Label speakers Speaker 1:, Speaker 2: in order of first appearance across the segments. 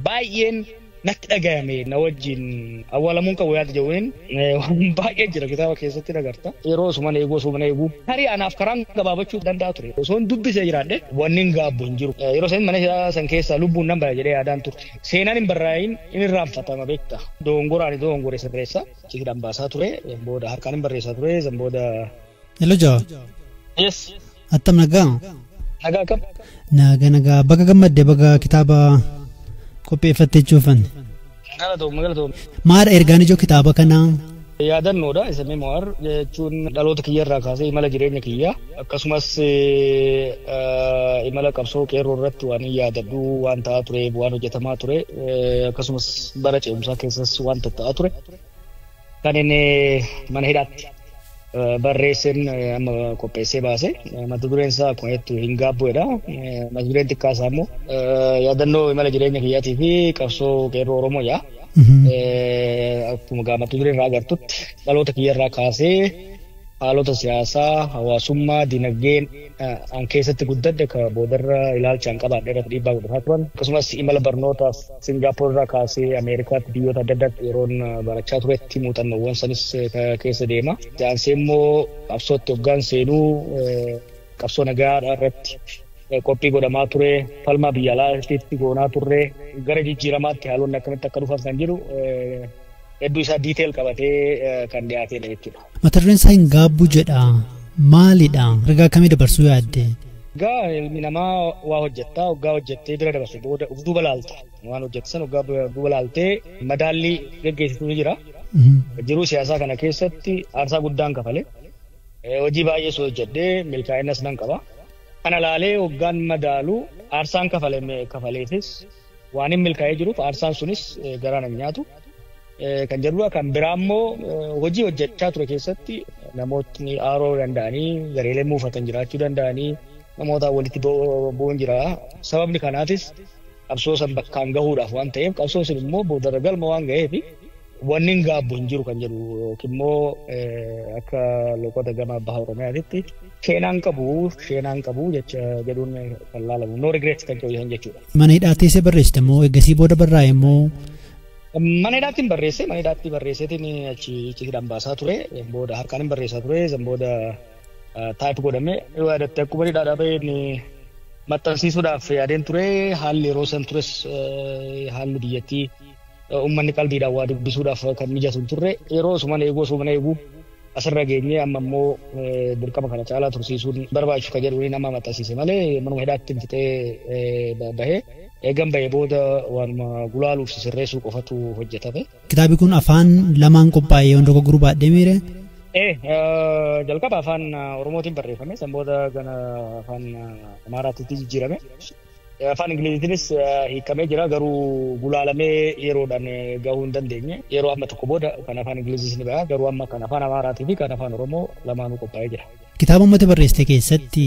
Speaker 1: baay'een natti dhagayame na wajjin awwaalamuun qabu yaada jedhuun waan baay'ee jira kitaaba keessatti nagarta. Yeroo osuma na eegu osuma na eegu tarii anaaf karaan gabaabachuu danda'a ture. Osoon dubbisee jiraadhe wanni hin gaabbu hin jiru. Yeroo san mana hidhaa san keessaa lubbuun nan baya jedhee yaadaan turte. Seenaan hin barraa'iin hin irraanfatama beekta. Doongoraan doongore sirreessa. Ciidhaan baasaa ture. Booda harkaan hin barreessaa ture. San booda. Hello Jawa.
Speaker 2: Yes.
Speaker 1: Attam nagaa?
Speaker 2: Nagaa kam?
Speaker 1: Nagaa nagaa
Speaker 2: baga gammadde baga kitaaba qopheeffattee jechuufan. Galatoomne
Speaker 1: galatoomne. Maadha ergaan
Speaker 2: ijoo kitaaba kanaa? Yaadannoodha
Speaker 1: isa memoir jechuun dhaloota kiyyarraa kaasee imala jireenya kiyyaa. Akkasumas imala qabsoo qeerroo irratti waanin yaadadhu waan ta'aa ture, waan hojjetamaa ture, akkasumas bara ce'umsaa keessas waan tatta'aa ture kan inni mana hidhaatti barreesseen amma qopheessee baase mata dureen isaa akkuma jettu hin gaabbu'edha. Mata dureen xiqqaa isaa immoo yaadannoo imala jireenya kiyyaatii fi qabsoo qeerroo Oromoo yaa. Akkuma gaamatu duree irraa agartutti dhaloota kiyya irraa kaasee haalota siyaasaa, hawaasummaa, dinagdeen an keessatti guddadhe ka boodarra ilaalcha an qabaadhe irratti dhiibbaa godhataa turan. Akkasumas imala barnootaaf Singaapoor irraa kaasee Ameerikaatti biyyoota adda addaatti yeroon barachaa turetti muuxannoowwan sanis keessa deema. Itti aansee immoo qabsootti hoggaan seenuu qabsoo nagaa irratti qophii godhamaa ture, falmaa biyya alaa irratti goonaa turre, gara jijjiiramaatti haalonni akkamitti akka dhufan kan jedhu hedduu isaa diiteel qabatee kan dhiyaateedha jechuudha. Mata dureen isaa hin gaabbu
Speaker 2: jedha. Maalidha? Ergaa akkamii dabarsuu yaadde? Egaa ilmi
Speaker 1: namaa waa hojjetta oggaa hojjettee bira dabarse booda uf duuba laalta. Waan hojjette san oggaa bira duuba laaltee madaallii geggeessitu ni jira. Jiruu siyaasaa kana keessatti aarsaa guddaan kafale. Eh, Hojii baay'ees hojjedhee milkaa'inas nan qaba. Kana laalee oggaan madaalu aarsaan kafale kafaleefis Waanin milkaa'ee jiruuf aarsaan sunis garaa nan nyaatu kan jedhudha. Kan biraa immoo hojii hojjechaa ture keessatti namootni aaroo danda'anii gareelee muufatan jiraachuu danda'anii namoota walitti bu'uun jira. Sababni kanaafis qabsoo san bakkaan gahuudhaaf waan ta'eef qabsoon sun immoo boodarra galma waan ga'eef Wanni hin gaabbu hin jiru kan jedhu yookiin immoo akka loqoda gama baha Oromiyaatitti sheenaan qabu sheenaan qabu jecha jedhuun kan laalamu no regret kan jedhu hin jechuudha. Mana hidhaa teessee barreessite
Speaker 2: moo eegasii booda barraa'e moo Mana
Speaker 1: hidhaatti hin barreesse mana hidhaatti barreesseetiin achi hidhaan baasaa ture booda harkaan hin barreessaa ture san booda taayip godhame yoo yaadatte akkuma hidhaadhaa bahee inni maxxansiisuudhaaf yaadeen ture haalli yeroo san tures haalli biyyattii Uummanni qalbiidhaan waa dubbisuudhaaf kan mijatu hin turre. Yeroo osuman eeguu osuman eeguu asirra geenye amma immoo dirqama kana caalaa tursiisuun barbaachisu kan jedhuun nama maxxansiise malee manuma hidhaatti hin fixee bahee eegan bahee booda waanuma gulaaluuf sirreessuu qofatu hojjetame. Kitaabi kun afaan
Speaker 2: lamaan qophaa'e yoon dogoggoruu baadhee miire. Ee jalqaba
Speaker 1: afaan Oromootiin barreeffame san booda gana afaan Amaaraatti jijjiirame. Afaan Ingiliziitinis hiikamee jira garuu gulaalamee yeroodhaan gahuu hin dandeenye. Yeroo amma tokko booda kan afaan Ingiliziis ni baha garuu amma kan afaan Amaaraatii fi kan afaan Oromoo lamaanuu qophaa'ee jira. Kitaaba ummata barreessite
Speaker 2: keessatti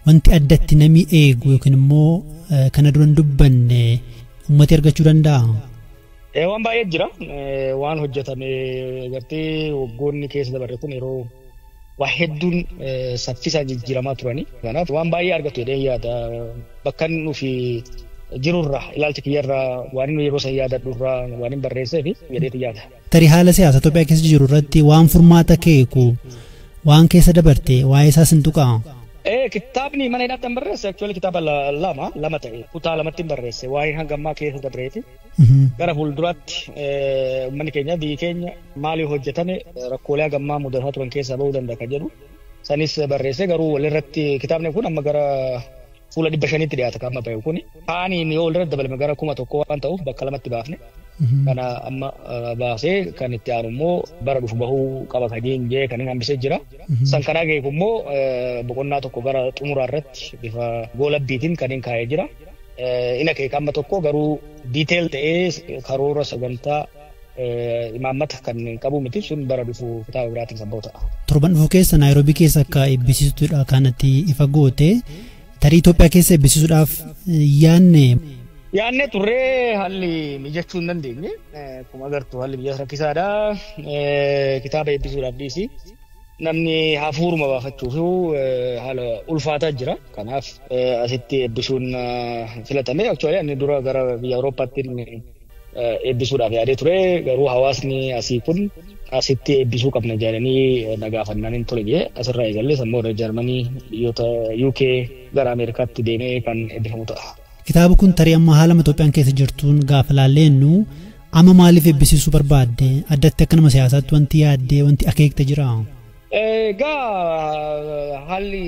Speaker 2: wanti addatti namni eegu yookiin immoo kana dura hin dubbanne ummati argachuu danda'aa? Waan
Speaker 1: baay'ee jira. Waan hojjetame gartee waggoonni keessa dabarre kun yeroo waa hedduun saffisaan jijjiiramaa turani. Kanaaf waan baay'ee argatu jedheen yaada. Bakkan nufi jirurraa ilaalcha kiyyarraa waan inni yeroo san yaadadhurraa waan hin barreessee fi jedheeti yaada. Tarii haala siyaasa Itoophiyaa
Speaker 2: keessa jiru irratti waan furmaata keeku waan keessa dabarte waa'ee isaas hin tuqaa. Ee kitaabni
Speaker 1: mana hidhaatti hin barreesse actually kitaaba lama lama ta'e kutaa lamatti hin barreesse waa'ee hangammaa keessa dabreeti. Gara fuulduraatti uummanni keenya biyyi keenya maalii hojjetame rakkoolee hagammaa mudataa turan keessaa ba'uu danda'a kan jedhu sanis barreessee garuu walirratti kitaabni kun amma gara fuula dhibba shaniitti dhiyaata kan amma ba'e kun kaaniin yoo walirratti dabalame gara kuma tokko waan ta'uuf bakka lamatti baafne kana amma baasee kan itti aanu immoo bara dhufu bahuu qaba kan jee kan hambisee jira. San kanaa ga'e immoo boqonnaa tokko gara xumuraa irratti bifa goolabbiitiin kan hin kaa'ee jira. in akeeka amma tokko garuu detail ta'ee karoora sagantaa imaammata kan qabu miti sun bara dhufu kitaaba biraatiin kan ba'u ta'a. Torban dhufu keessa
Speaker 2: Naayiroobii keessa akka eebbisiistuudha kanatti ifa goote tarii Itoophiyaa keessa eebbisiisuudhaaf yaanne.
Speaker 1: Yaannee turree haalli mijachuu hin dandeenye akkuma agartu haalli mijaas rakkisaadha kitaaba eebbisuudhaaf dhiisi. Namni hafuuruma baafachuuf haala ulfaataa jira. Kanaaf asitti eebbisuun filatame. Aktuwaalii ani dura gara biyya Awurooppaatti eebbisuudhaaf yaadee ture. Garuu hawaasni asii kun asitti eebbisuu qabna jedhanii na gaafannaan hin tole jedhee asirraa eegallee sammuu irra Jarmanii biyyoota UK gara Ameerikaatti deemee kan eebbifamu ta'a. Kitaaba kun tarii amma
Speaker 2: haalama Itoophiyaan keessa jirtuun gaafa laallee jennu Amma maaliif eebbisiisuu barbaadde? Addatti akka nama siyaasaatti wanti yaaddee wanti akeekte jira? Egaa
Speaker 1: haalli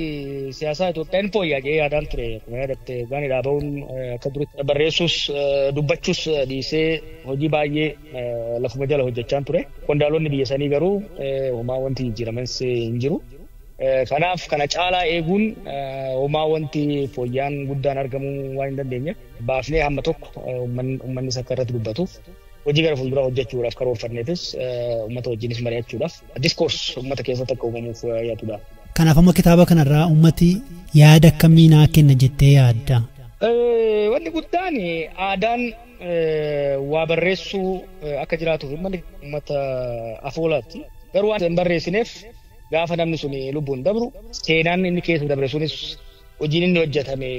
Speaker 1: siyaasaa Itoophiyaa ni fooyya'a jedhee yaadaan ture. Akkuma yaadatte baani dhaaba'uun akka duritti barreessuus dubbachuus dhiisee hojii baay'ee lafuma jala hojjechaan ture. Qondaalonni biyya sanii garuu homaa wanti jijjiirames hin jiru. Kanaaf kana caalaa eeguun homaa wanti fooyyaan guddaan argamuu waan hin dandeenyeef baafnee hamma tokko uummanni sakka irratti dubbatu hojii gara fuulduraa hojjechuudhaaf karoorfanneetis uummata wajjinis mari'achuudhaaf diskoors uummata keessatti akka uumamuuf yaadudha. Kanaaf amma kitaaba
Speaker 2: kanarraa uummati yaada akkamii naa kenna jettee yaadda? Wanni
Speaker 1: guddaan aadaan waa barreessuu akka jiraatuuf uummanni uummata afoolaatti. Garuu waan hin barreessineef gaafa namni sun lubbuun dabru seenaan inni keessa dabre sunis Hojiin inni hojjatame,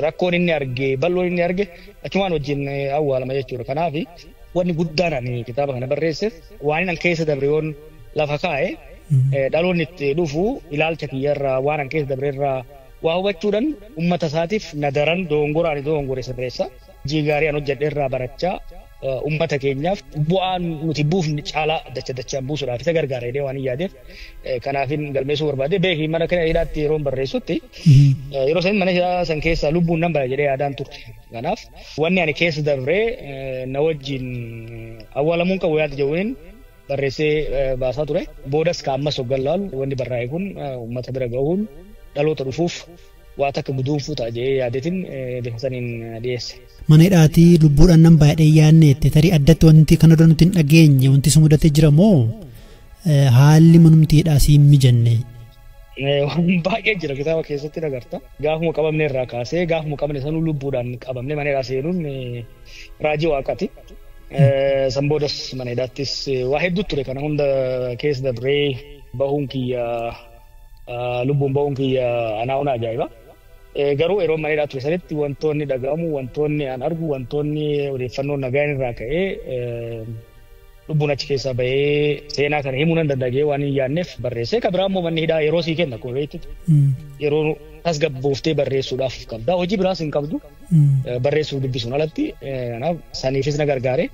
Speaker 1: rakkoon inni arge, bal'oon inni arge achumaan wajjin awwaalama jechuudha. Kanaaf wanni guddaan ani kitaaba kana barreesseef waanin an keessa dabre yoon lafa kaa'e dhaloonni itti dhufu ilaalcha kiyyarraa waan an keessa dabrerraa waa hubachuudhan ummata isaatiif na daran dogongora ani dogongore sirreessa. Hojii gaarii an hojjedhe irraa barachaa uummata keenyaaf bu'aa nuti buufne caalaa dacha dachaan buusuudhaaf isa gargaara jedhee waan hin yaadeef kanaafin galmeessuu barbaade beeki mana kana hidhaatti yeroon barreessutti yeroo san mana hidhaa san keessaa lubbuun nan bala jedhee yaadaan turte kanaaf wanni ani keessa dabree na wajjin awwaalamuun qabu yaada jedhuun barreessee baasaa ture boodas ka ammas hoggan laalu wanni barraa'e kun uummata bira gahuun dhaloota dhufuuf waa takka guduunfuu ta'a jedhee yaadeetiin bifa saniin dhiyeesse. Mana hidhaatii
Speaker 2: lubbuudhaan nan baay'ee yaadneette tarii addatti wanti kana dura nuti hin dhageenye wanti si mudatee jira moo haalli manumti hidhaa si hin mijanne. Waan
Speaker 1: baay'ee jira kitaaba keessatti agarta. Gaafuma qabamne irraa kaasee gaafuma qabne sanuu lubbuudhaan qabamne mana hidhaa seenuun raajii waaqati. San boodas mana hidhaattis waa hedduu ture kana hunda keessa dabree bahuun kiyya Lubbuun ba'uun kiyya anaa ona ajaa'iba. Garuu yeroo mana hidhaa ture sanitti wantoonni dhaga'amu, wantoonni an argu, wantoonni odeeffannoo nagaan irraa ka'ee lubbuun achi keessaa bahee seenaa kana himuu nan danda'a jedhee waan hin yaadneef barreessee kan biraa immoo manni hidhaa yeroo sii kenna akkuma beektu yeroo tasgabbooftee barreessuudhaaf qabda hojii biraas hin qabdu barreessuuf dubbisuun alatti kanaaf saniifis na gargaare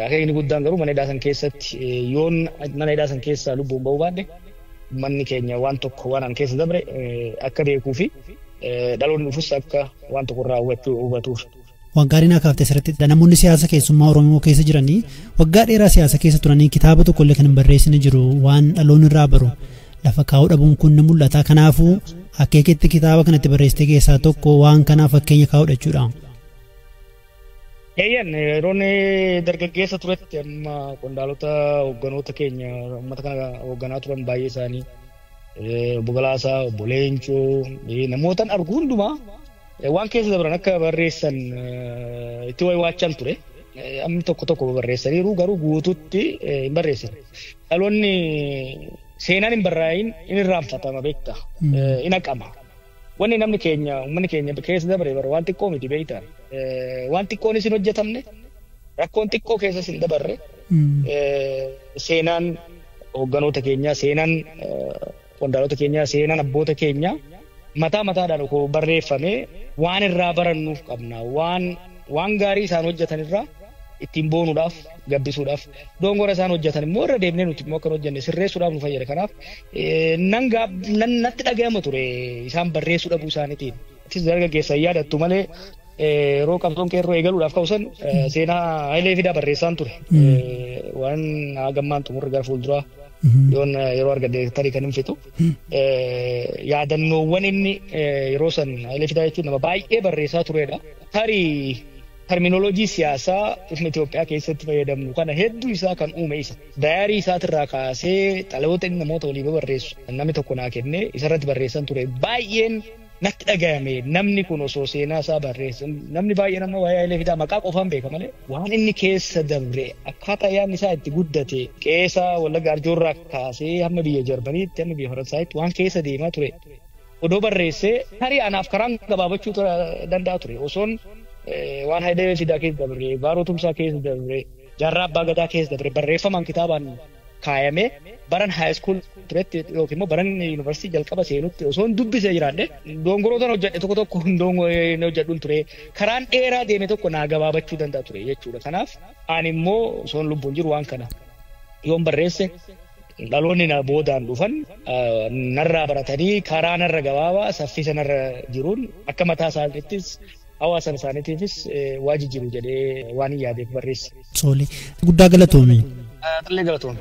Speaker 1: akeekni guddaan garuu mana hidhaa san keessatti yoon mana hidhaa san keessaa lubbuun ba'uu baadhe Ummanni keenya waan tokko waan an keessa dabre akka beekuu fi dhaloonni dhufus akka waan tokko irraa hubachuu hubatuuf. Waan gaarii naa
Speaker 2: kaafte asirratti namoonni siyaasa keessummaa Oromoo keessa jiranii waggaa dheeraa siyaasa keessa turanii kitaaba tokko illee kan hin barreessine jiru waan dhaloonni irraa baru lafa kaa'uu dhabuun kun ni mul'ata kanaafuu akeeketti kitaaba kanatti barreessite keessaa tokko waan kanaaf fakkeenya kaa'udha jechuudha. Eeyyan
Speaker 1: yeroon dargaggeessa turetti amma qondaalota hoogganoota keenya uummata kana hoogganaa turan baay'ee isaanii obbo Galaasaa, obbo Leencoo namootan argu hundumaa waan keessa dabran akka barreessan itti waywaachan ture. Amni tokko tokko barreessaniiru garuu guututti hin barreessan. Dhaloonni seenaan hin barraa'iin hin irraanfatama beekta hin haqama. Wanni namni keenya, ummanni keenya keessa dabre bar waan xiqqoo miti beekta. Waan xiqqoonis hin hojjetamne, rakkoon xiqqoo keessas hin dabarre. Seenaan hogganoota keenyaa, seenaan qondaalota keenyaa, seenaan abboota keenyaa mataa mataadhaan koo barreeffamee waan irraa barannuuf qabna. Waan waan gaarii isaan hojjetan irraa ittiin boonuudhaaf gabbisuudhaaf doongora isaan hojjetan immoo irra deemnee nuti immoo akka hin hojjenne sirreessuudhaaf nu fayyada. Kanaaf nan natti dhaga'ama ture isaan barreessuu dhabuu isaaniitiin. Atis dargaggeessa hin yaadattu malee yeroo qabsoon qeerroo eegaluudhaaf ka'usan seenaa Hayilee Fidaa barreessaan ture. Waan hagammaan xumurri gara fuulduraa yoon yeroo argadde tarii kan hin fixu. Yaadannoowwan inni yeroo san Hayilee Fidaa jechuun nama baay'ee barreessaa turedha. Tarii Terminology siyaasaa sirna Itoophiyaa keessatti fayyadamnu kana hedduu isaa kan uume isa. Dayaarii isaatirraa kaasee xalayoota inni namoota walii babarreessu kan namni tokko naa kenne isarratti barreessan ture baay'een natti dhagayame namni kun osoo seenaa isaa barreessan namni baay'een amma waa'ee Hayilee Fidaa maqaa qofaan beeka malee waan inni keessa dabre akkaataa yaadni isaa itti guddate qeesaa Wallagga Arjoorraa kaasee hamma biyya Jarmaniitti hamma biyya Faransaayitti waan keessa deemaa ture odoo barreessee tarii anaaf karaan gabaabachuu ta- danda'a ture. Osoon eh, waan Hayilee Fidaa keessa dabre, Baaroo Tumsaa keessa dabre, Jaarraa Abbaa Gadaa keessa dabre barreeffamaan kitaabaan kaayamee baran haayiskuul turetti yookiin immoo baran yuunivarsiitii jalqaba seenutti osoo hin dubbisee jiraadhe dongorootan hojjedhe tokko tokko hin dongo- hin hojjedhun ture karaan dheeraa deeme tokko naa gabaabachuu danda'a ture jechuudha. Kanaaf ani immoo osoon lubbuun jiru waan kana yoon barreesse Dhaloonni na boodaan dhufan narraa baratanii karaa narra gabaabaa saffisa narra jiruun akka mataa isaaniittis hawaasa isaaniitiifis waa jijjiiru jedhee
Speaker 2: waanin yaadeef
Speaker 1: barreesse. Tole, guddaa galatoomi.
Speaker 2: Atillee
Speaker 1: galatoomi.